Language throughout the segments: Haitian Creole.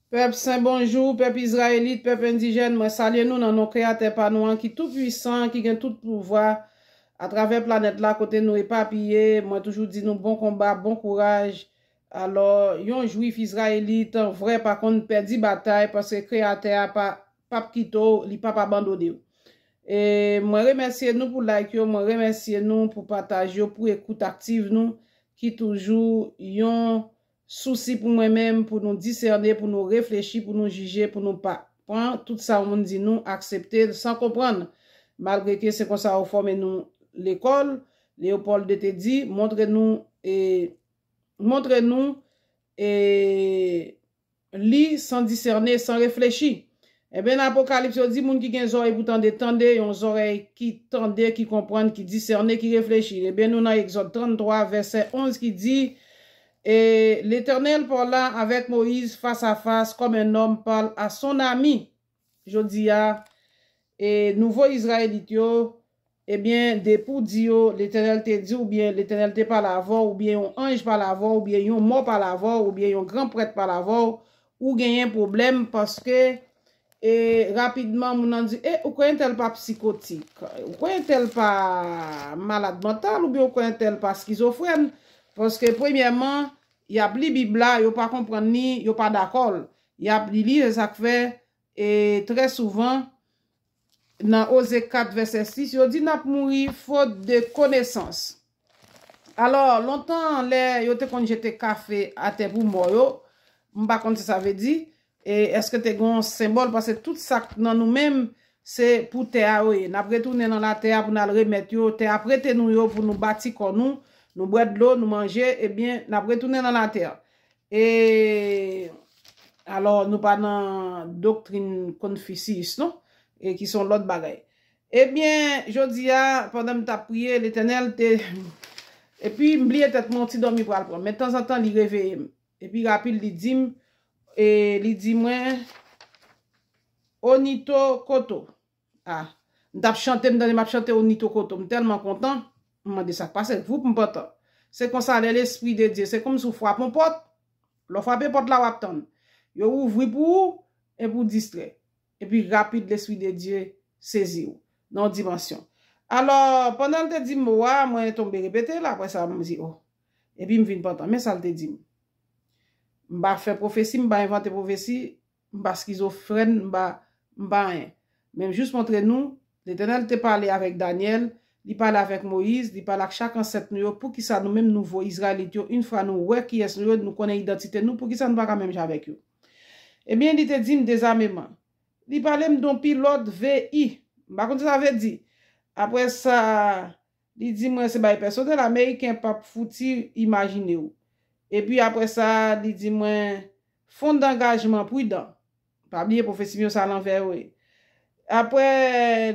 Pèp sen bonjou, pèp izrayelit, pèp endijèn, mwen salye nou nan non Kreyatè pa nou an ki tou pwisan an ki gen tout pouvwa atravè planèt la kote nou epapiye, mwen toujou di nou bon konba, bon kouraj, alò yon jwif izrayelit vrè pa konn pèdi batay paske Kreyatè a pa pap kite w li pap abandone w. E mwen remèsye nou pou like yo, mwen remèsye nou pou pataj yo, pou ekout aktiv nou ki toujou yon Sousi pou mwen menm, pou nou disène, pou nou reflechi, pou nou jije, pou nou pa. Pran tout sa yon moun di nou, aksepte l san konprann. Malgre ke se konsa yo fòme nou lekòl, Léopold ii te di, montre nou e montre nou e li san disène, san reflechi. Enben, nan Apokalips, yo di, Moun ki gen zòrèy pou tande, tande, yon zòrèy ki tande, ki konprann, ki disène, ki reflechi. Enben, nou nan Egzòd 33, vèsè 11, ki di, E Letènèl parla avèk Moyiz fas a fas, kòm un nòm parle a son ami. Jodi a, e nouvo Izrayelit yo, Ebyen, depi w di yo, Letènèl te di oubyen Letènèl te pale avè w oubyen yon anj pale avè w oubyen yon mò pale avè w oubyen yon gran prèt pale avè w, ou genyen pwoblèm paske e rapidman moun nan di e ou kwè entèl pa psikotik, ou kwè entèl pa malad mantal oubyen ou kwè entèl pa skizofrèn paske premyèman y ap li Bib la yo pa konprann li, yo pa dakò l y ap li li se sa k fè e trè souvan Nan Oze 4, vèsè 6, yo di n ap mouri fot de konesans. Alò, lontan lè yo te konn jete kafe atè pou mò yo, m pa konn sa sa vle di, e èske te gen yon senbòl, pase tout sa k nan nou menm, se pou tè a yo ye. N ap retounen nan latè a pou n al remèt yo, tè a prete nou yo pou nou bati kò nou, nou bwè dlo, nou manje, ebyen, n ap retounen nan latè. E Alò nou pa nan doktrin konfisiyis non e ki se yon lòt bagay. Ebyen jodi a pandan m tap priye Letènèl te epi m bliye tèt mwen yon ti dòmi pral pran men tanzantan li reveye m epi rapid li di m e li di mwen Onito kote w. Ah m tap chante m tande map chante yon Nitho Koto m tèlman kontan m mande sak pase voup m pantan se konsa lè lespri de Dye se kòmsi w fwap yon pòt lè w fwape pòt la wap tann yo ouvri pou ou epi w distrè epi rapid lespri de Dye sezi w nan yon dimansyon alò pandan l te di mo a mwen tonbe repete l aprè sa m di oh epi m vin pantan men sa l te di m m pa fè pwofesi m pa envante pwofesi M pa skizofrèn, m pa, m pa anyen. Men m jis montre nou, Letènèl te pale avèk Danyèl, Li pale avèk Moyiz, Li pale ak chak ansèt nou yo, poukisa nou menm nouvo Izrayelit yo, infra nou wè kiyès nou yo, nou konnen idantite nou, poukisa nou pa ka menm jan avèk yo? Ebyen, Li te di m dezameman. Li pale m don pi lòd VI. M pa konn sa sa vle di. Aprè sa, Li di mwen se bay pèsonèl ameriken pap fouti imajine w. Epi apre sa, li di mwen, Fon dangajman pridan. Pa bliye pwofesi m yo se alanvè yo ye. Apre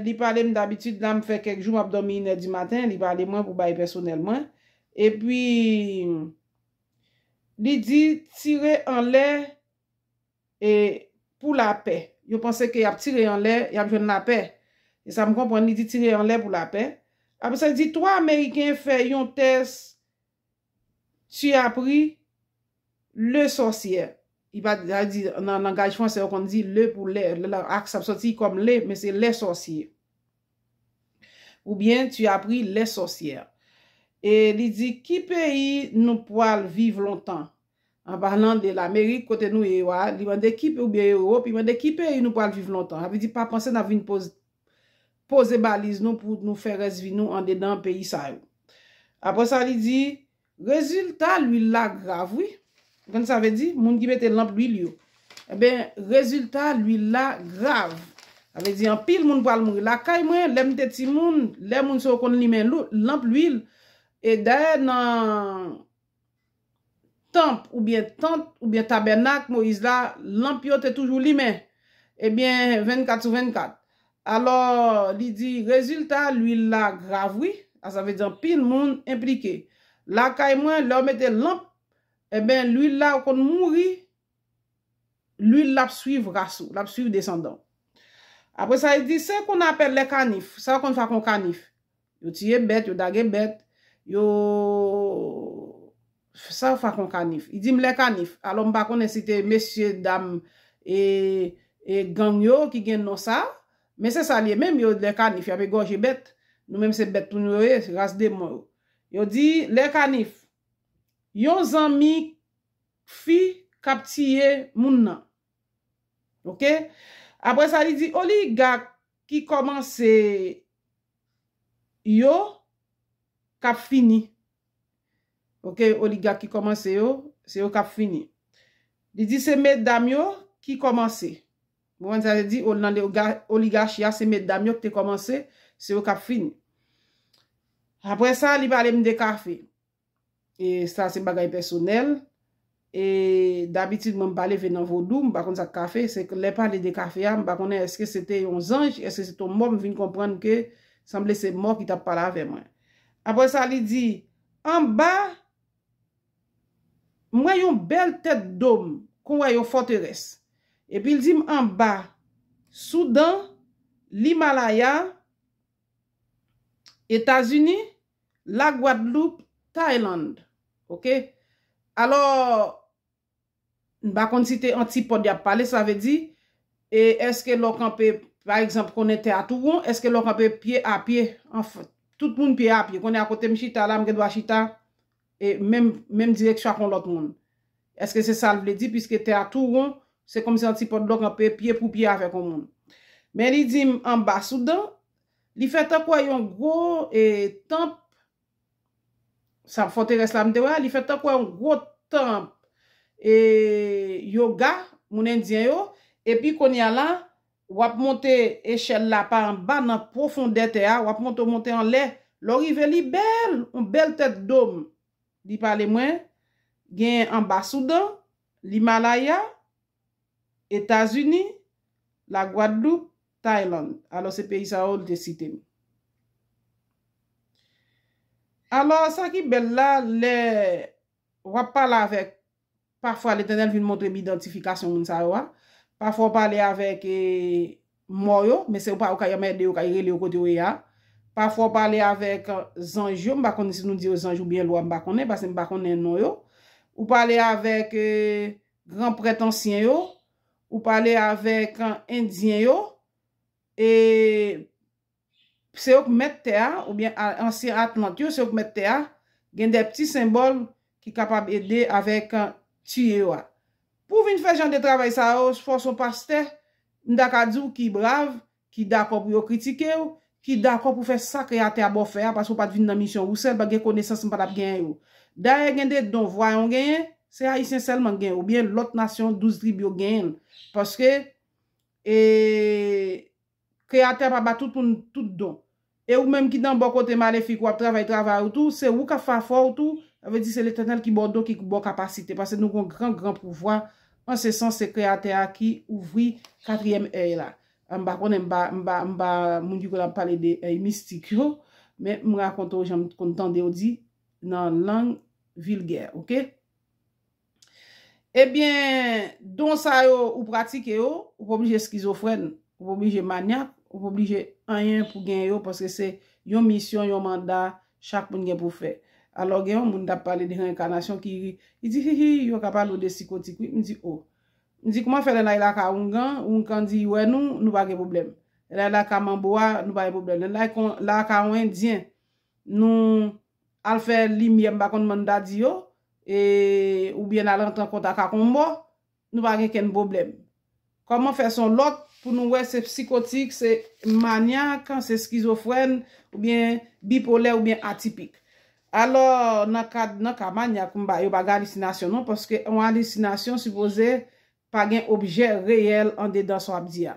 li pale m dabitid la m fè kèk jou m ap dòmi inè di maten, li pale mwen pou bay pèsonèl mwen. Epi li di tire anlè E pou lapè. Yo panse ke yap tire anlè, yap jwenn lapè. Se sa m konprann, li di tire anlè pou lapè. Apre sa li di 3 ameriken fè yon tès tu as pris le sorcier. Li pa di, sa vle di nan langaj fransè yo konn di le pou lè. Lè la aks ap soti kòm le, men se les sorciers. Oubyen tu as pris les sorcières. E li di ki peyi nou pwal viv lontan. An palan de lamerik kote nou ye yo a, li mande ki, oubyen ewop, li mande ki peyi nou pral viv lontan. Sa vle di pa panse nap vin poz, poze baliz nou pou nou fè rès vi nou andedan peyi sa yo. Apre sa li di, rezilta lwil la grav wi. Ou konn sa vle di? Moun ki mete lanp lwil yo. Enben, rezilta lwil la grav. Sa vle di anpil moun pral mouri. Lakay mwen, lè m te timoun, lè moun se yo konn limen lou, lanp lwil. E dayè nan. tanp oubyen tant oubyen tabènak Moyiz la, lanp yo te toujou limen, ebyen 24 sou 24. Alò, li di, rezilta luil la grav wi, a sa vle di anpil moun enplike. Lakay mwen, lè w mete lanp, enben luil la ou konn mouri, luil la ap swiv ras ou, l ap swiv desandan w. Apre sa li di, se kon apè lè kanif, sa w konn fè ak yon kanif? Yo tiye bèt, yo dage bèt, yo Sa yo fè ak yon kanif? Li di m lè kanif. Alò m pa konnen si te mesye dam e gang yo ki gen non sa a. Men se sa li ye menm, yo lè kanif y ap egòje bèt. Nou menm se bèt tou nou yo ye, ras demon yo. Yo di lè kanif. Yon zanmi fi k ap tiye moun nan. Ok. Apre sa li di oligak ki kòmanse yo kap fini ok oligak ki komanse yo se yo kap fini li di se medam yo ki komanse ou konprann sa li di nan oligachi a se medam yo ki te komanse se yo kap fini aprè sa li pale m de kafe. E sa se bagay pèsonèl. E dabitid mwen m pa leve nan vodou, m pa konn sa k kafe. Se lè pale de kafe a, m pa konnen èske se te yon zanj, èske se te yon mò, m vin konprann ke sanble se mò ki t ap pale avè mwen. Apre sa li di, Anba, m wè yon bèl tèt dom, kon wè yon fòterès. Epi l di m anba, Soudan, Limalaya, Etazini, La Guadeloupe Thailand ok alò m pa konn si te antipòd yap pale sa vle di e eske lè w kanpe pa egzanp konnen tè a tou won eske lè w kanpe pye a pye anfen tout moun pye a pye konnen a kote m chita la m gen dwa chita e menm menm direksyon ak yon lòt moun eske se sa l vle di piske tè a tou won se kòmsi antipòd lè w kanpe pye pou pye avèk yon moun men li di m anba sou dan Li fè tankou a yon gwo tanp, sa fòterès la m te wè a, li fè tankou a yon gwo tanp yoga moun endyen yo, epi kounye a la, w ap monte echèl la pa anba nan pwofondè tè a, w ap monte w monte anlè, lè w rive li bèl, yon bèl tèt dom, li pale mwen, gen anba Soudan, l'Himalaya, Etazini, La Gwadloup, Tayland. Alò se peyi sa yo li te site m. Alò sa ki bèl la, lè w ap pale avèk, pafwa Letènèl vin montre m idantifikasyon moun sa yo a. Pafwa w pale avèk mò yo, men se ou pa ou ka janm ede yo, ka rele yo kote yo ye a. Pafwa w pale avèk zanj yo, m pa konnen si nou di yo zanj oubyen lwa m pa konnen, pase m pa konnen non yo. Ou pale avèk. Gran prèt ansyen yo, ou pale avèk endyen yo, e se yo k mèt tè a, oubyen ansyen atlant yo, se yo k mèt tè a, gen de pti senbòl ki kapab ede avèk tiye yo a. Pou w vin fè jan de travay sa yo, fòs yon pastè, m ta ka di w ki brav, ki dakò pou yo kritike w, ki dakò pou fè sa Kreyatè a ba w fè a paske w pa t vin nan misyon ou sèl, pa t gen konesans m pa t ap genyen yo. Dayè gen de don Vwayon genyen, se Ayisyen sèlman k gen yo oubyen lòt nasyon 12 tribi yo k genyen l paske Kreyatè a pa ba tout moun tout don. E ou menm ki nan bò kote malefik wap travay travay ou tou, se ou kap fè afè w tou, sa vle di se Letènèl ki ba w don ki ba w kapasite, pase nou gon gran gran pouvwa, an se sans se Kreyatè a ki ouvri katriyèm èy la. M pa konnen, m pa, m pa, m pa moun ki konn ap pale de èy mistik yo, men m rakonte w jan m t konn tande yo di nan lang vilgè, ok. Ebyen, don sa yo ou pratike yo, ou pa oblije eskizofrèn, ou pa oblije manyak, ou pa oblije anyen pou gen yo paske se yon misyon, yon manda chak moun gen pou fè. Alò gen yon moun k ap pale de reenkanasyon ki ri, li di hi hi yo ka pale w de sikotik wi. M di o. M di kouman fè lè n ale lakay oungan, oungan di wè nou, nou pa gen pwoblèm. Lè n ale lakay manbo a, nou pa gen pwoblèm. Lè n ale lakay yon endyen, nou. Al fè limyè m pa konn mann ta di yo e ou byen al rantre an kontak ak on mò nou pa gen kenn pwoblèm. Kòman fè son lòt pou nou wè se psikotik, se manyak, se skizofrèn ou byen bipolè ou byen atipik. Alò nan kad nan ka manyak m pa yo pa gen alisinasyon non paske on alisinasyon sipoze Pa gen objè reyèl andedan sa w ap di a.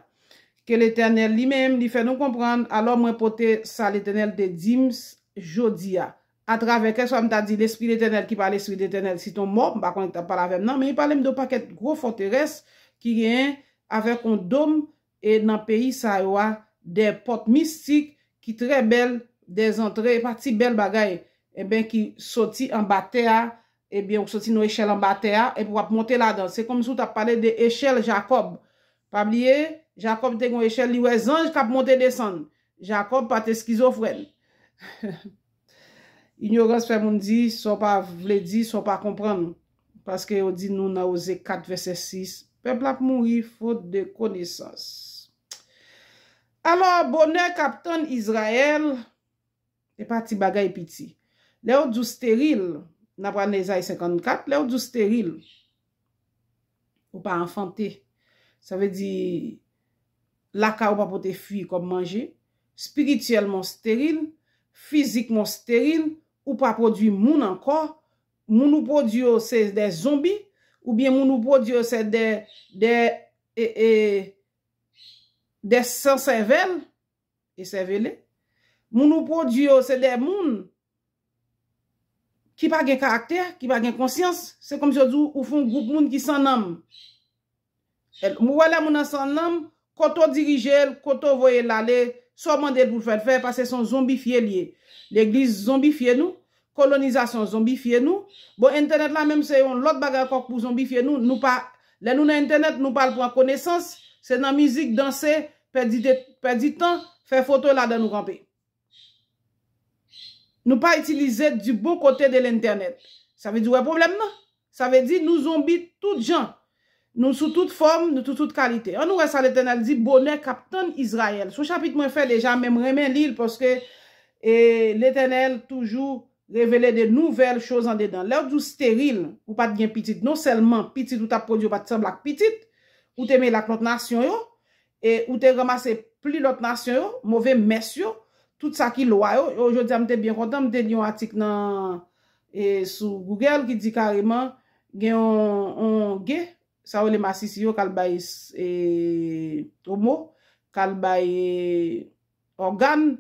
Ke Letènèl Li menm Li fè nou konprann, alò mwen pote sa Letènèl te di m jodi a. Atravè, kèlkeswa m ta di, Lespri Letènèl ki pa Lespri Letènèl, se t on mò, m pa konnen ki t ap pale avè m nan, men Li pale m de on pakèt gwo fòterès ki genyen avèk on dom E nan peyi sa yo a dè pòt mistik ki trè bèl, dè zantre, e pa ti bèl bagay, enben ki soti anba tè a, ebyen ou soti nan echèl anba tè a, epi wap monte ladan. Se kòmsi ou tap pale de echèl Jakòb. Pa bliye, Jakòb te gen yon echèl, li wè zanj kap monte desann. Jakòb pa te skizofrèn. Inyorans fè moun di sa w pa vle di, sa w pa konprann. Paske yo di nou nan Oze 4 vèsè 6, Pèp la ap mouri fot de konesans. Alò, bonè k ap tann Izrayèl, se pa ti bagay piti. Lè yo di w steril, nan pral nan Ezayi 54, lè yo di w steril, Ou pa anfante. Sa vle di, lakay ou pa pote fwi kòm manje, spirityèlman ou steril, fizikman ou steril, ou pa pwodui moun ankò, moun ou pwodui yo se de zonbi, oubyen moun ou pwodui yo se de, de, e, e, de san sèvèl. E sèvele. Moun ou pwodui yo se de moun ki pa gen karaktè, ki pa gen konsyans. Se kòmsi yo di w ou fon gwoup moun ki san nanm. Ou wè lè moun nan san nanm, kote w dirije l, kote w voye l ale, sa w mande l pou l fè l fè paske se yon zonbifye l ye. Legliz zonbifye nou, Kolonizasyon zonbifye nou. Bon entènèt la menm se yon lòt bagay ankò k pou zonbifye nou, nou pa lè nou nan entènèt nou pa al pran konesans, se nan mizik, danse, pèdi de pèdi tan, fè foto e ladan nou kanpe. Nou pa itilize du bon kote de lentènèt. Sa vle di ou wè pwoblèm nan? Sa vle di, nou zonbi tout jan. Nou sou tout fòm, nou sou tout kalite. Annou wè sa Letènèl di bonè k ap tann Izrayèl. Son chapit mwen fè deja men m renmen li l paske Letènèl toujou revele de nouvèl choz andedan. Lè w di w steril, ou pa t gen pitit, non sèlman pitit ou t ap pwodui yo pa t sanble ak pitit ou te mele ak lòt nasyon yo, E ou te ranmase pli lòt nasyon yo, move mès yo, tout sa ki lwa yo. O, jodi a m te byen kontan, m te li yon atik nan, e, sou Google ki di kareman, gen yon, yon ge, sa yo rele masisi yo k al bay, e, omo, k al bay, e, ògàn,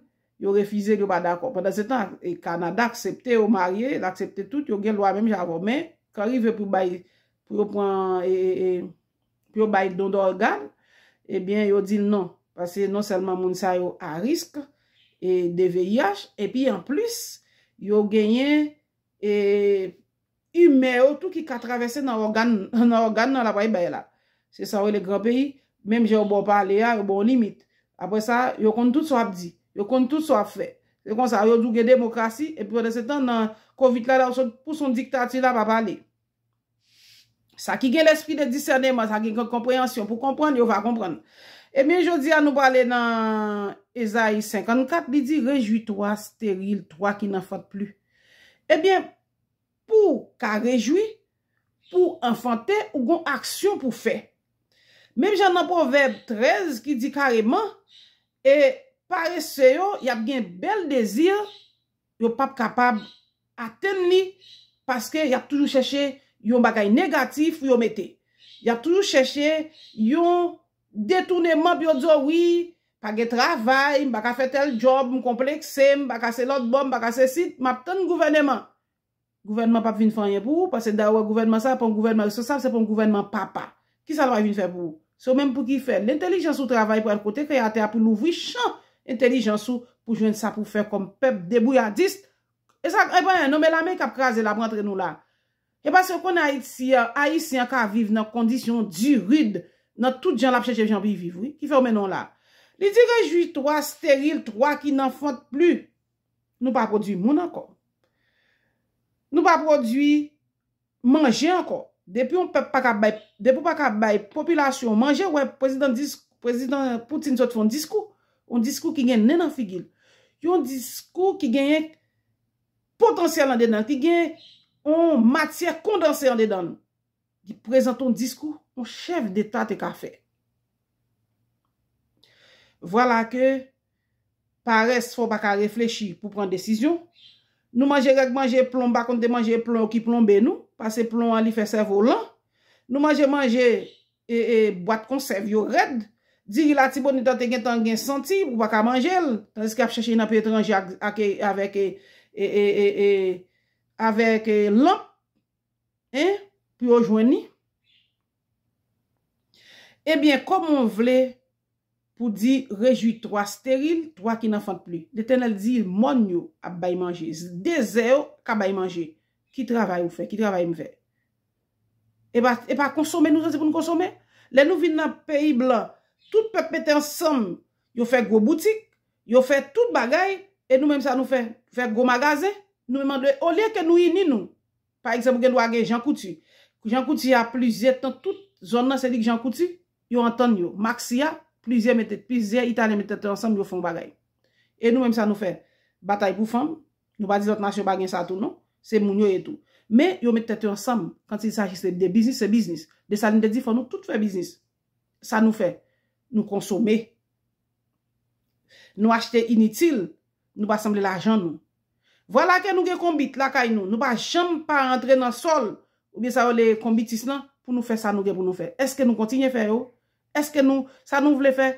yo refize l, yo pa dakò. Pandansetan, e, Kanada aksepte yo marye, l aksepte tout, yo gen lwa menm jan avè w. Men, kan rive pou bay, pou yo pran, e, e, e, pou yo bay don dògàn, ebyen yo di non. Pase non sèlman moun sa yo a risk e de VIH, epi an plis, yo genyen e imè yo tou ki ka travèse nan ògàn, nan ògàn nan la bay bay la. Se sa yo rele gran peyi, menm jan yo ba w pale a, yo ba w limit. Apre sa, yo konn tout sa w ap di, yo konn tout sa w ap fè. Se konsa, yo di w gen demokrasi, epi pandan se tan nan Covid la, la w sot pou son diktati la pa pale. Sa ki gen lespri de disèneman, sa ki gen konpreyansyon pou konprann, yo va konprann. Ebyen, jodi a nou prale nan Ezayi 54, li di, Rejwi twa, steril, twa ki nanfant pli. Ebyen, pou w ka rejwi, pou w anfante, ou gon aksyon pou w fè. Menm jan nan Pwovèb 13 ki di kareman, e parese yo, y ap gen bèl dezi, yo pap kapab atenn li paske y ap toujou chèche yon bagay negatif pou yo mete. Y ap toujou chèche yon detouneman pou yo di w wi, pa gen travay, m pa ka fè tèl djòb, m konplekse, m pa ka se lòtbò, m pa ka sesi, m ap tann gouvèneman. Gouvènman pap vin fè anyen pou ou, paske da wè gouvènman sa, pon gouvènman responsab, se pon gouvènman papa. Ki sa l pral vin fè pou ou? Se ou menm pou ki fè. Lentelijans ou travay pral kote kreyatè a pou louvri chan entelijans ou pou jwenn sa pou fè kòm pèp debouyadis e sa e pa anyen non men lame kap kraze lap rantre nou la e paske yo konnen ayiti a ayisyen an ka viv nan kondisyon di rid nan tout jan lap chèche jan pou y viv wi ki fè yo mennen w la li di rejwi twa steril twa ki nan fant pli. Nou pa pwodwi moun ankò. Nou pa pwodwi manje ankò. Depi yon pèp pa ka bay, depi w pa ka bay popilasyon w manje, wè prezidan dis, prezidan Poutine sot fè yon diskou, yon diskou ki gen nen nan figi l. Yon diskou ki genyen potansyèl andedan l, ki gen yon matyè kondanse andedan l. Li prezante yon diskou yon chèf deta te ka fè. Vwala ke parès fè w pa ka reflechi pou pran desizyon. Nou manje règ manje plon, m pa konn te manje plon yo ki plonbe nou, pase plon an li fè sèvo w lan. Nou manje manje e bwat konsèv yo rèd. Diri latibonit lan te gentan gen santi ou pa ka manje l, tandiske y ap chèche l nan peyi etranje ak avèk lanp. Hein pou yo jwenn li. Ebyen koman w vle pou di rejwi 3 steril, 3 ki nan fant li. Letènèl di mòn yo ap bay manje, dezè yo ka bay manje. Ki travay ou fè, ki travay m fè. E pa konsome nou santi pou n konsome. Lè nou vin nan peyi blan, tout pèp mete ansanm, yo fè gwo boutik, yo fè tout bagay, e nou menm sa nou fè, fè gwo magazen. Nou menm olye ke nou ini nou, Pa egzanp ou gen dwa gen Jean Coutu. Jean Coutu a plizyè tan tout zòn nan se li k Jean Coutu. Yo antann yo. Maxi a, plizyè mete, plizyè italyen mete tèt yo ansanm yo fè yon bagay. E nou menm sa nou fè? Batay pou fanm. Nou pa di lòt nasyon pa gen sa tou non. Se moun yo ye tou. Men yo met tèt yo ansanm quand il s'agit se de biznis se biznis. Dessalines te di fò nou tout fè biznis. Sa nou fè? Nou konsome. Nou achte initil, nou pa sanble lajan nou. Vwala ke nou gen konbit lakay nou, nou pa janm pa rantre nan sòl, oubyen sa yo le konbitis lan, pou nou fè sa nou gen pou nou fè. Eske nou kontinye fè yo? Eske nou, sa nou vle fè?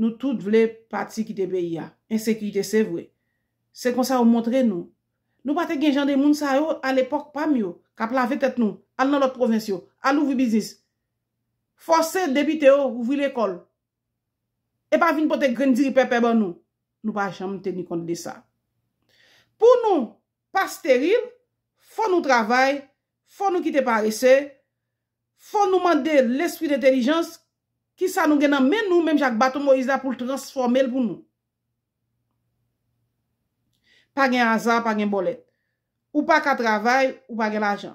Nou tout vle pati kite peyi a. Ensekirite se vre. Se konsa yo montre nou. Nou pa te gen jan de moun sa yo a lepòk pa m yo, k ap lave tèt nou, al nan lòt pwovens yo, al ouvri biznis. Fòse depite yo ouvri lekòl, e pa vin pote grenn diri pèpè ban nou, nou pa janm teni kont de sa. Pou nou pa steril, fò nou travay, fò nou kite parese, fò nou mande lespri dentelijans, ki sa nou gen nan men nou menm jan ak baton Moyiz la pou l transfòme l pou nou. Pa gen aza, pa gen bòlèt. Ou pa ka travay, ou pa gen lajan.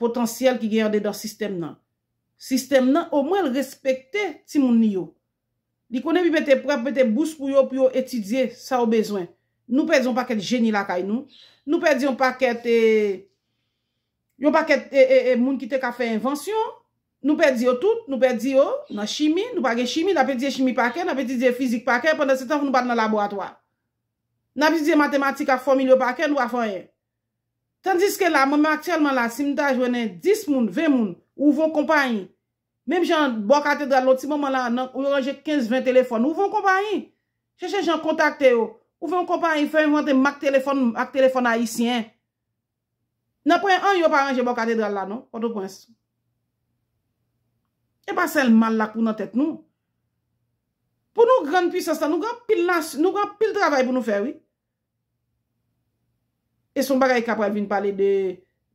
potansyèl ki gen andedan sistèm nan. Sistèm nan omwen l respekte timoun li yo. Li konnen epi mete pre ap mete bous pou yo pou yo etidye sa yo bezwen. Nou pèdi yon pakèt jeni lakay nou. Nou pèdi yon pakèt e yon pakèt e e e moun ki te ka fè envansyon. Nou pèdi yo tout. Nou pèdi yo nan chimi. Nou pa gen chimi. N ap etidye chimi pa kè. N ap etidye fizik pa kè. Pandansetan nou pa al nan laboratwa. N ap etidye matematik ak fòmil yo pa kè. Nou pa fè anyen. Tandiske la mwen menm aktyèlman la si m ta jwennen 10 moun, 20 moun, ou von konpayi. Menm jan bò katedral la yon ti moman la nan yo ranje 15, 20 telefòn, ou von konpayi. Chèche jan kontakte yo, ou von konpayi fè envante mak telefòn, mak telefòn ayisyen. Nan pwen an yo pa ranje bò katedral la non, Pòtoprens. E pa sèl mal la k pou nan tèt nou. Pou nou grann pwisans la nou gen anpil nas, nou gen anpil travay pou nou fè wi. E son bagay ka pral vin pale de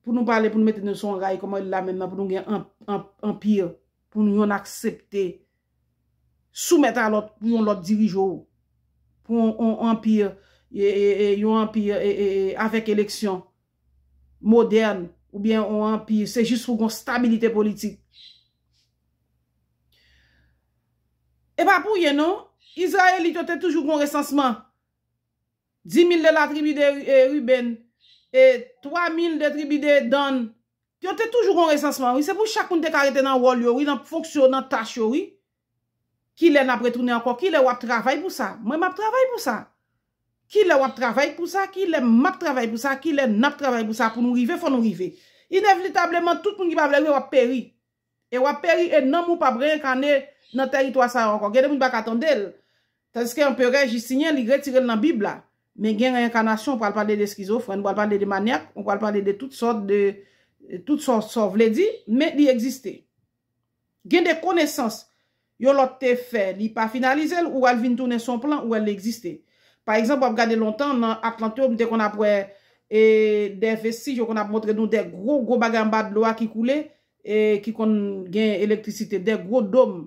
pou nou pale pou nou mete nou son ray koman la menm nan pou nou gen anpir pou nou yon aksepte sou mèt a lòt pou yon lòt dirijou pou yon anpir yon anpir avèk eleksyon modèn ou byen yon anpir se jis pou gon stabilite politik. E pa pou yon non, Izrayelit yo te toujou gon resansman Di mil de la tribi de Ribenn, e twa mil de tribi de Dann. Yo te toujou gon resansman wi. Se pou chak moun te ka rete nan wòl yo wi, nan fonksyon yo, nan tach yo wi. Kilè n ap retounen ankò? Kilè w ap travay pou sa? Mwen m ap travay pou sa. Kilè w ap travay pou sa? Kilè m ap travay pou sa? Kilè n ap travay pou sa pou nou rive? Fò nou rive. Inevlitableman, tout moun ki pa vle rive w ap peri. E wap peri e nanm ou pap reenkane nan tèritwa sa yo ankò. Gen de moun pa ka tande l. Tandiske Anperè Jistinyen li retire l nan Bib la. Men gen reenkanasyon, ou pral pale de skizofrèn, ou pral pale de manyak, ou pral pale de tout sòt de tout sa w vle di, men li egziste. Gen de konesans Yon lòt te fè, li pa finalize l, ou wè l vin tounen s on plan, ou wè l egziste. Pa egzanp, w ap gade lontan, nan Atlant yo, m te konn ap wè e de vestij, yo konn ap montre nou de gwo gwo bagay anba dlo a ki koule, e ki konn gen elektrisite, de gwo dom.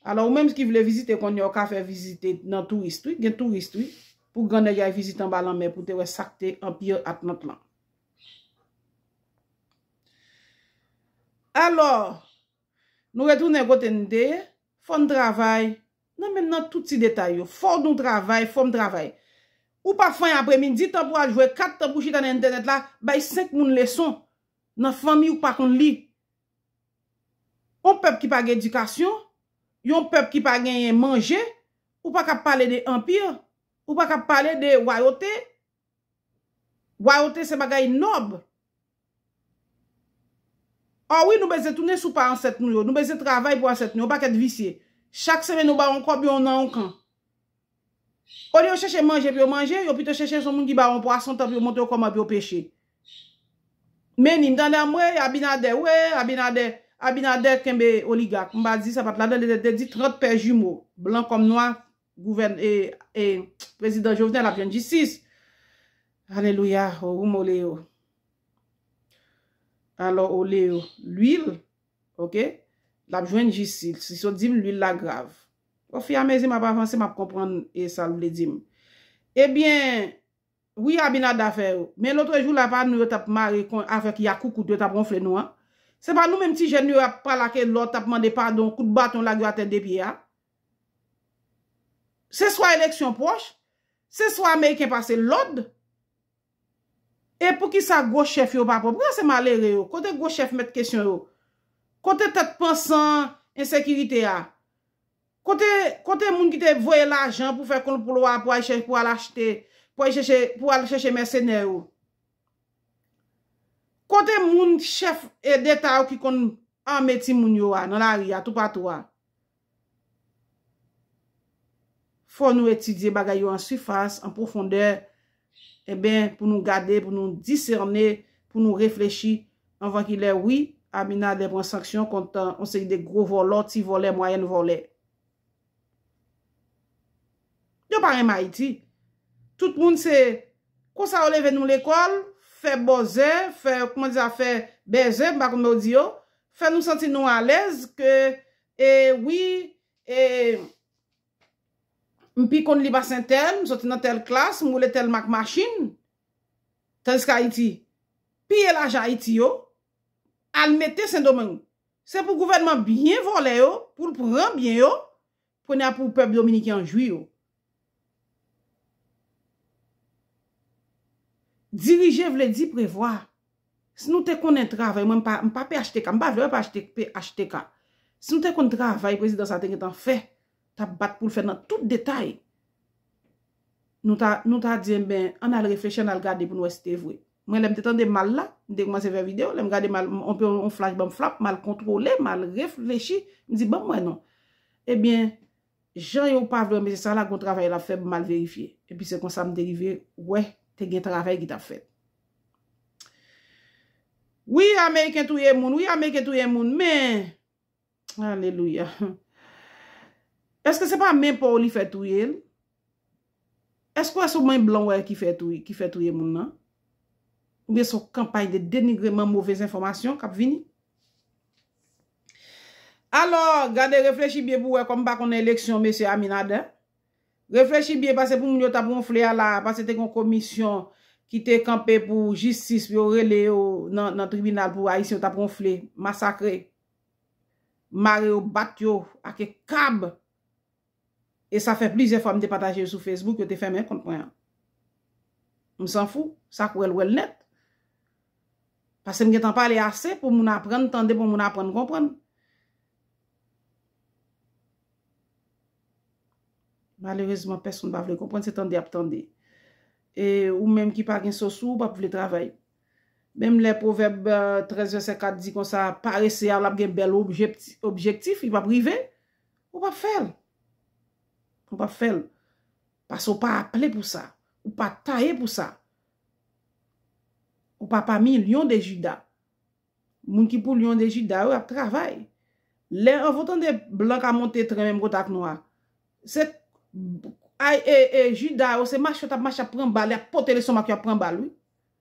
Alò ou menm ki vle vizite kounye a ou ka fè vizite nan tourist wi, gen tourist wi, pou gran nèg al vizite anba lanmè pou te wè sa k te Anpir Atlant lan. Alò! Nou retounen kote n te ye. Fò n travay. Nan menm nan tout ti detay yo. Fò nou travay, fò m travay. Ou pa fanyen apremidi, tan pou al jwe kat, tan pou chita nan entènèt la, bay 5 moun leson. Nan fanmi ou k pa konn li. On pèp ki pa gen edikasyon, yon pèp ki pa genyen manje, ou pa ka ap pale de anpir, ou pa ka ap pale de wayote. Wayote se bagay nòb. Ò wi nou bezyen tounen sou pa ansèt nou yo, nou bezyen travay pou asèt nou yo, yon pakèt visye. Chak semenn yo ba w yon kòb yon nan yon kan. Olye yo chèche manje pou yo manje, yo pito chèche son moun ki ba w yon pwason tan pou yo montre w kòman pou yo peche. Menni, m tande anmwey Abinader we, Abinader, Abinader kenbe oligak. M pa di sa pat ladan li te di 30 pè jimo, blan kòm nwa, Gouvèn e e prezidan Jovenel ap jwenn jistis. Alelouya o rum o leo. Alò o leo lwil ok lap jwenn jistil si so dim lwil la grav. O fi a mezi map avanse map konprann e sal vle dim. Ebyen wi abinada fè yo men lotrejou la pa nou yo tap mare kon avèk yakoukout yo tap ronfle nou an. Se pa nou menm ti jèn yo ap pale ak elò tap mande padon kout baton lage yo atè de pye a. Se swa eleksyon pwòch, se swa ameriken pase lòd. E poukisa gwo chèf yo pa pran? Poukisa se malere yo? Kote gwo chèf mèt kesyon yo? Kote tèt pansan ensekirite a? Kote moun ki te voye lajan pou fè konplwa pou al achte, pou al chèche mèsenè yo? Kote moun chèf deta yo ki konn ame timoun yo a nan lari a toupatou a? Fò nou etidye bagay yo an sifas, an pwofondè, enben pou nou gade, pou nou disène, pou nou reflechi, anvan ki lè wi, Abinader pran sanksyon kont yon seri de gwo vòlò, ti vòlè, mwayèn vòlè. Yo pa renmen Ayiti. Tout moun se, konsa yo leve nou lekòl, fè bòzè, fè, kouman di sa, fè bèzè, m pa konn men yo di yo, fè nou santi nou alèz ke E wi e M pi konn li pase tèl M soti nan tèl klas M woule tèl mak machin Tandiske Ayiti Piye lajan Ayiti yo Al mete sendomeng Se pou gouvènman byen vòlè yo Pou l pran byen yo Kounye a pou pèp dominiken an jwi yo Dirije vle di prevwa. Si nou te konnen travay, mwen m pa phtk, m pa vle phtk. Si nou te konn travay prezidan sa te gentan fè, t ap bat pou l fè nan tout detay, nou ta di enben, an n al reflechi, an n al gade pou n wè si te vre. Mwen lè m te tande mal la, m te koumanse fè videyo, lè m gade mal, yon flach ban m flap, m al kontwole, m al reflechi, m di ban m wè non. Ebyen, Jan yo pa vle mesye sa la gon travay lap fè m mal verifye epi se konsa m te rive wè te gen travay ki tap fèt wi ameriken touye moun wi ameriken touye moun men alelouya eske se pa men paw li fè touye l eske w wè se w men blan w wè ki fè touye moun nan oubyen se w kanpay de denigreman movez enfòmasyon kap vini Alò, gade reflechi byen pou wè kòm pa konnen eleksyon Mesye Aminadin. Reflechi byen pase pou moun yo tap wonfle a la a pase te gon komisyon ki te kanpe pou jistis pou yo rele yo nan tribinal pou Ayisyen yo tap wonfle, masakre, mare yo, bat yo ake kab. e sa fè plizyè fwa m te pataje l sou Facebook, yo te fèmen kont mwen an. M san fou, sa k wè l wè l nèt. Pase m gentan pale ase pou moun aprann tande, pou moun aprann konprann. Malerezman, pèsonn pa vle konprann, se tande y ap tande. E ou menm ki pa gen so sou ou, pa vle travay. Menm lè pwovèb 13 vèsè 4 di konsa, parese a l ap gen bèl objektif, li p ap rive. Ou pap fè l. Ou pap fè l. Pase ou pa aple pou sa. Ou pa taye pou sa. Ou pa pami lyon de jida. Moun ki pou lyon de jida yo ap travay. Lè an vou tande blan ka monte tren menm kote ak nwa. Se ay e e jida yo se mache yo tap mache ap pran bal yap pote leson mak yo ap pran bal wi.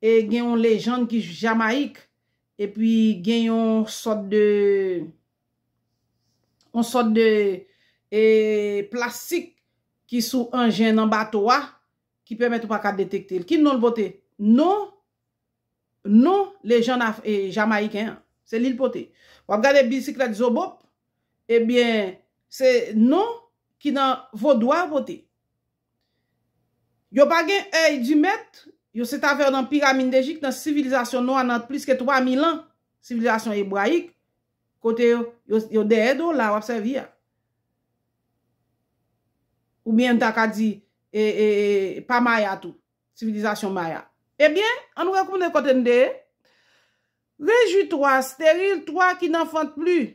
E gen yon lejand ki Jamayik e pi gen yon sòt de yon sòt de e plastik ki sou anjen nan bato a ki pèmèt ou pa ka detekte l. Ki non l pote? Non non lejand af e Jamayiken an. Se li l pote. W ap gade bisiklèt zobop ebyen se non ki nan vodou a pote. Yo pa gen èy di mèt, yo se ta fè yo nan piramindejik nan sivilizasyon nwa nan plis ke 3000 an, sivilizasyon ebrayik, kote yo dèyè do w la a w ap sèvi a. Ou byen m ta ka di, e, e, e, pa maya tou, sivilizasyon maya. E byen, an nou retounen kote n te ye. Rejwi twa, sterile twa ki n'en fente plus.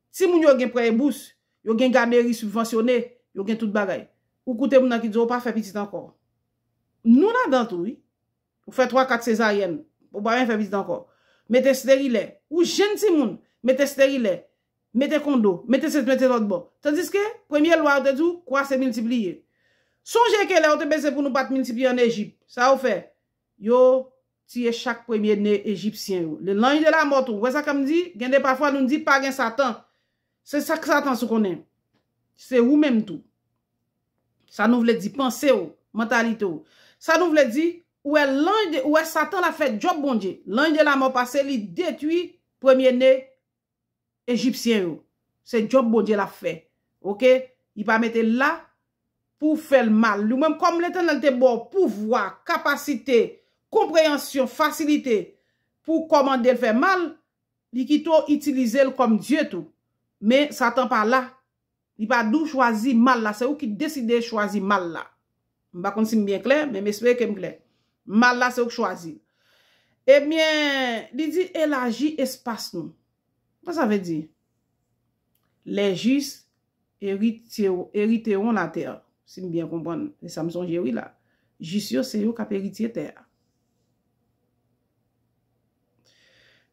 Timoun yo gen prè e bous, yo gen gaderi sibvansyone, yo gen tout bagay. Ou koute moun nan ki di w ou pa fè pitit ankò. Nou ladan tou wi. Ou fè twa kat sezaryèn, ou pa menm fè pitit ankò. Mete sterilè. Ou jenn timoun, mete sterilè, mete kondo, mete sesi mete lòtbò. Tandiske, premye lwa yo te di w kwa se miltipliye. Sonje ke lè yo te peze pou nou pa t miltipliye an Ejip, sa yo fè? Yo tiye chak premye ne Ejipsyen yo. Le lanj de la mò tou. Ou wè sa kèm di? Gen de pafwa nou di pa gen satan. Se sak satan sou konnen. Se ou menm tou. Sa nou vle di panse ou. Mantalite ou. Sa nou vle di, ou wè lanj de, ou wè satan la fè djòb Bondye. Lanj de la mò pase li detwi premye ne Ejipsyen yo. Se job Bondye lap fè. Ok. Li pa mete l la pou w fè l mal. Li menm kòm Letènèl te ba w pouvwa, kapasite, konpreyansyon, fasilite pou w kòmande l fè mal, li kite w itilize l kòm dye tou. Men Satan pa la. Li pa di w chwazi mal la, se ou ki deside chwazi mal la. M pa konn si m byen klè, men m espere ke m klè. Mal la se ou k chwazi l. Ebyen, li di elaji espas nou. Sa sa vle di? Les justes heriteront la terre, si m byen konprann. Se sa m sonje wi la. Jis yo se yo k ap eritye tè a.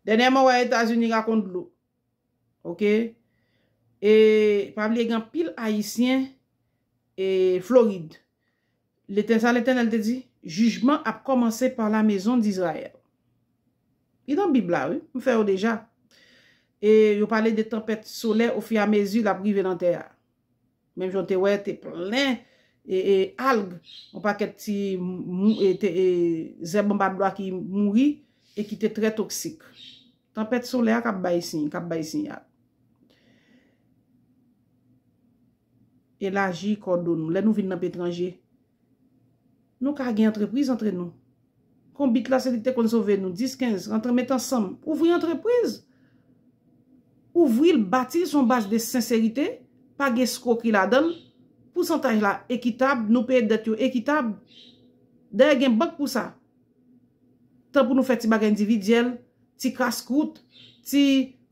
Dènyèman wè Etazini rakon dlo. Ok e pa bliye gen anpil ayisyen e florid lete sa letènèl te di jijman ap kòmanse pa la mezon dizrayèl li nan bib la wi m fè yo deja e yo pale de tanpèt solè ofi a mezi l ap rive nan tè a. Menm jan w te wè, te plen e alg, yon pakèt ti zèb anba dlo a ki mouri e ki te trè toksik. Tanpèt solè a k ap bay siy, k ap bay siyal. Elaji kò do nou. Lè nou vin nan petranje. Nou ka gen antrepriz antre nou. Konbit la se li ki te konn sove nou. 10, 15, rantre met ansanm. Ouvri antrepriz. Ouvri l, bati l sou yon baz de senserite. Pa gen eskwokri ladan l. Pousantaj la ekitab. Nou peye dèt yo ekitab. Dayè gen bank pou sa. Tan pou nou fè ti bagay endividyèl, ti kas kwout, ti,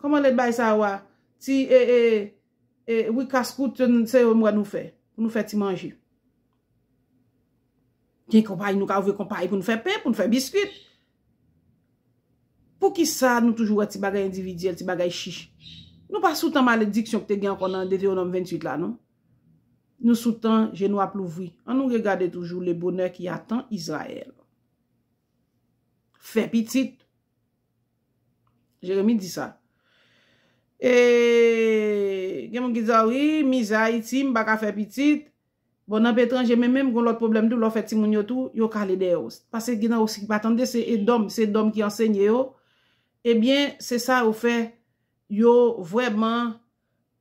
kòman lè bay sa yo a, ti e e, Wi kas kout yo se yo m wè nou fè pou nou fè ti manje. Gen konpayi nou ka ouvri konpayi pou nou fè pen, pou nou fè biskwit. Poukisa nou toujou wè ti bagay endividyèl, ti bagay chich. Nou pa sou tan malediksyon ki te gen ankò nan Deteonòm 28 la non. Nou sou tan je nou ap louvri. An nou regade toujou le bonè ki atan Izrayèl. Fè pitit. Jeremi di sa. E gen moun ki di a wi, mizè Ayiti, m pa ka fè pitit. Bon, nan peyi etranje men menm gen yon lòt pwoblèm tou, lè w fè timoun yo tou, yo kale dèyè w. Pase gen nan yo ki pa tande, se edòm, se dòm ki ansenye yo. Ebyen, se sa yo fè, yo vrèman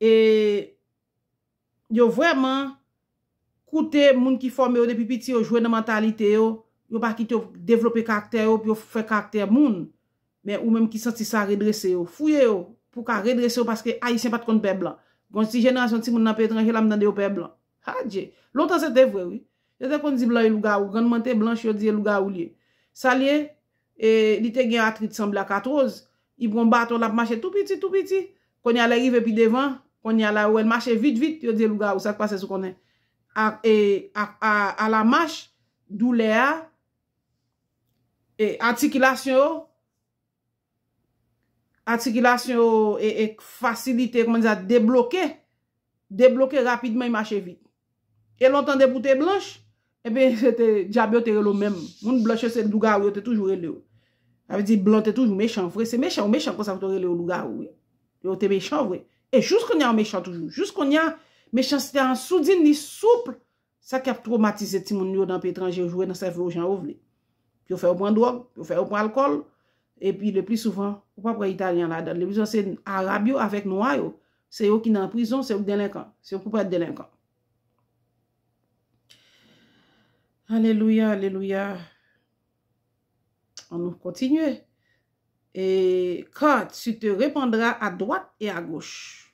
e. yo vrèman koute moun ki fòme yo depi piti yo jwe nan mantalite yo, yo pa kite yo devlope karaktè yo pou yo fè karaktè moun men ou menm ki santi sa redrese yo fouye yo pou w ka redrese yo paske ayisyen pat konn pè blan gon ti jenerasyon timoun nan peyi etranje la m tande yo pè blan adje lontan se te vre wi yo te konn di blan yo lougawou grann mwen te blanch yo di e lougawou l ye sa l ye E li te gen atrit sanble ak atroz. Li pran baton l ap mache tou piti, tou piti. Kounye a lè rive pi devan, kounye a la yo wè l mache vit, vit, yo di e lougawou sa k pase sou konnen. A e a a a la mach, doulè a, e atikilasyon yo, atikilasyon yo e e fasilite, kòman n di sa, debloke. Debloke rapidman e mache vit. E lontan depi w te blanch, enben se te dyab yo te rele w menm. Moun blanch yo se lougawou yo te toujou rele w. Sa vle di blan te toujou mechan vre. Se mechan ou mechan konsa pou te rele w lougawou wi. E w te mechan vre. E jous kounye a ou mechan toujou. Jous kounye a, mechanste a an soudin li souple Sa ki ap twomatize timoun nou yo nan peyi etranje yo jwe nan sèvo yo jan yo vle. Yo fè yo pran dwòg, yo fè yo pran alkòl, epi lepli souvan, ou pap wè Italyen ladan l. Lepli souvan se Arab yo avèk Nwa yo. Se yo ki nan prizon, se yo ki delenkan. Se yo ki pou pa èt delenkan. Alelouya, alelouya. An nou kontinye. E, Car tu te repandras à droite et à gauche.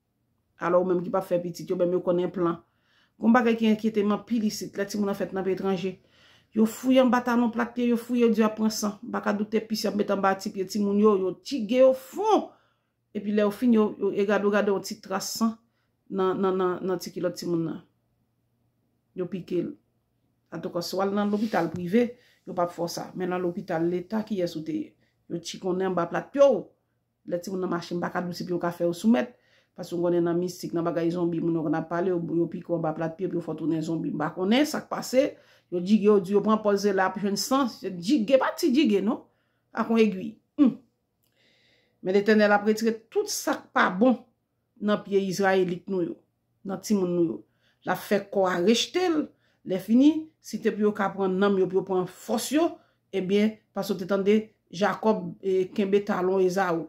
Alò ou menm ki pap fè pitit yo menm yo konn enplan. Gon bagay ki enkyete m anpil isit lè timoun an fèt nan peyi etranje. Yo fouye anba talon plat pye yo fouye yo di ap pran san. M pa ka doute pis yap met anba ti pye timoun yo yo tige yo fon. Epi lè yo fin yo e gade ou gade yon ti tras san nan ti kilòt timoun nan. Yo pike l. Antouka si w al nan lopital prive yo pap fè w sa. Men nan lopital leta kiyès ou te ye? Yo tchikonnen anba plat pye w. Lè timoun nan mache m pa ka dou ti pye ou ka fè yo soumèt. Paske m konnen nan mistik, nan bagay zonbi moun yo konn ap pale, yo pike w anba plat pye epi yo fè w tounen zonbi. M pa konnen sa k pase. Yo jige w, di yo pran pòz e la ap jwenn san. Jige pa ti jige non. Ak yon egui. Humm. Men Letènèl ap retire tout sa k pa bon. nan pye Izrayelit nou yo, nan timoun nou yo. L ap fè kò a rejte l. Lèfini, si te pou yo ka pran nanm yo, pou yo pran fòs yo, ebyen, paske w te tande Jakòb kenbe talon Ezaou.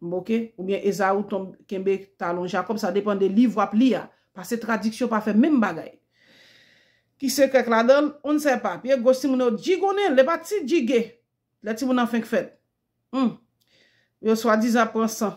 Oke? Oubyen Ezaou kenbe talon Jakòb, sa depan de liv w ap li a. Pase tradiksyon pa fè menm bagay. Ki sekrè k ladan l? On n sè pa. Pye goch timoun yo jigonnen l. L e pa ti jige lè timoun nan fenk fèt. Hum! Yo swadizan ap pran san.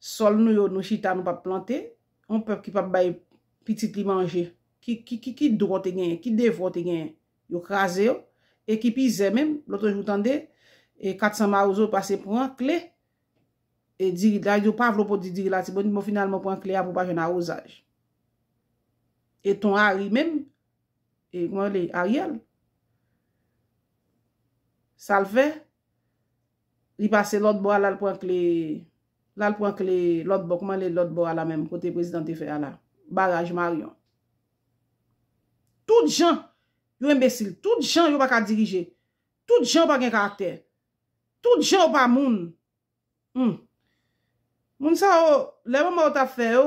Sol nou yo nou chita nou pap plante, yon pèp ki pap bay pitit li manje, ki dwa w te genyen, ki devwa w te genyen, yo kraze yo, e ki pi zè menm, lotre jou tande, 400 mawozo pase pran kle, e diri, la yo pa vle w pwodi diri latibonit, bon finalman w pran kle a pou w pa jwenn awozaj. E ton Ari menm, e kman rele, Ariel, sa l fè? Li pase lòt bò a lal pran kle lal pran kle lòt bò kouman le lòt bò a la menm kote prezidan te fè a la baraj maryon tout jan yo enbesil tout jan yo paka dirije tout jan yo pa gen karaktè tout jan yo pa moun humm moun sa yo lè manman yo tap fè yo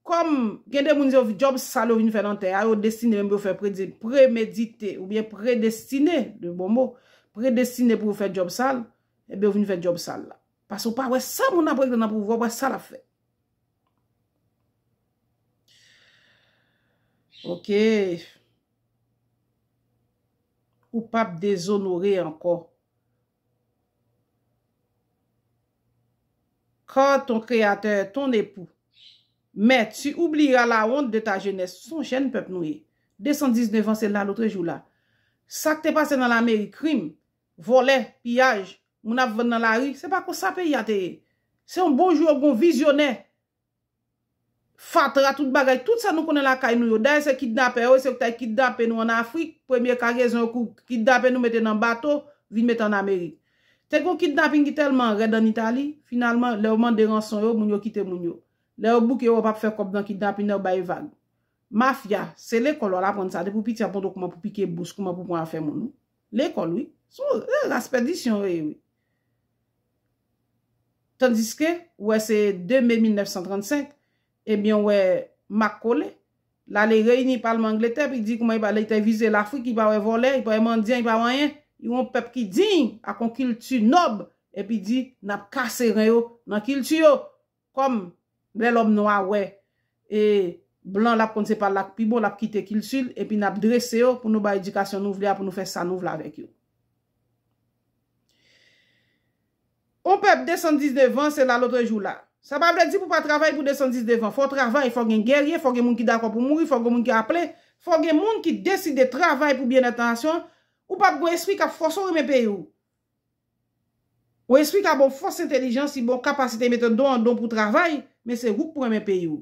Kòm, gen de moun yo, djòb sal yo vin fè nan tè a, yo destine menm pou yo fè predi, premedite, oubyen predestine, de bon mo, predestine pou yo fè djòb sal, enben yo vin fè djòb sal la. Pase ou pa wè sa moun ap regle nan pouvwa, ou pa wè sa l ap fè. Ok. Ou p ap dezonore ankò. Car ton Créateur est ton époux. Mais, tu oublieras la honte de ta jeunesse. Son jèn pèp nou ye. 219 ans se la lotrejou la. Sa k te pase nan lameri, krim, vòlè, piyaj, moun ap vann nan lari, se pa konsa peyi a te ye. Se yon bon jou yo gen yon vizyonè fatra tout bagay tout sa nou konnen lakay nou yo dayè se kidnapè yo e se yo ki ta kidnape nou an afrik premye kagezon yo kou kidnape nou mete nan bato vin mete an amerik te gon kidnaping ki tèlman rèd an itali finalman lè yo mande ranson yo moun yo kite moun yo lè yo bouke yo wè yo pap fè kòb nan kidnaping nan yo bay vag mafya se lekòl wal aprann sa depi w piti wap montre w kouman pou pike bous kouman pou pran afè moun wi lekòl wi se yon ras pèdisyon yo ye wi. Tandiske, ou wè se 2 me 1935, ebyen ou wè mak kole, l ale reyini palman Angletè pou l di kouman li te vize Lafrik, li pa wè vòlè, li pa wè mandyan, li pa wè anyen, li wè yon pèp ki diy, ak yon kilti nòb, epi di, n ap kase ren yo nan kilti yo! Kòm lè lòm nwa wè e blan lap konn se pa lak pi bon lap kite kiltil epi nap drese yo pou nou bay edikasyon nou vle a pou nou fè sa nou vle avèk yo. On pèp 219 an se la lotrejou la. Sa pa vle di pou pa travay pou 219 an. Fò travay, fò gen gèrye, fò gen moun ki dakò pou mouri, fò gen moun ki aple, fò gen moun ki deside travay pou byennèt nasyon, ou pap gon espri kap fòse w renmen peyi w. Ou esplika bon fòs entelijan si bon kapasite mete don an don pou travay men se ou k pran men peyi w.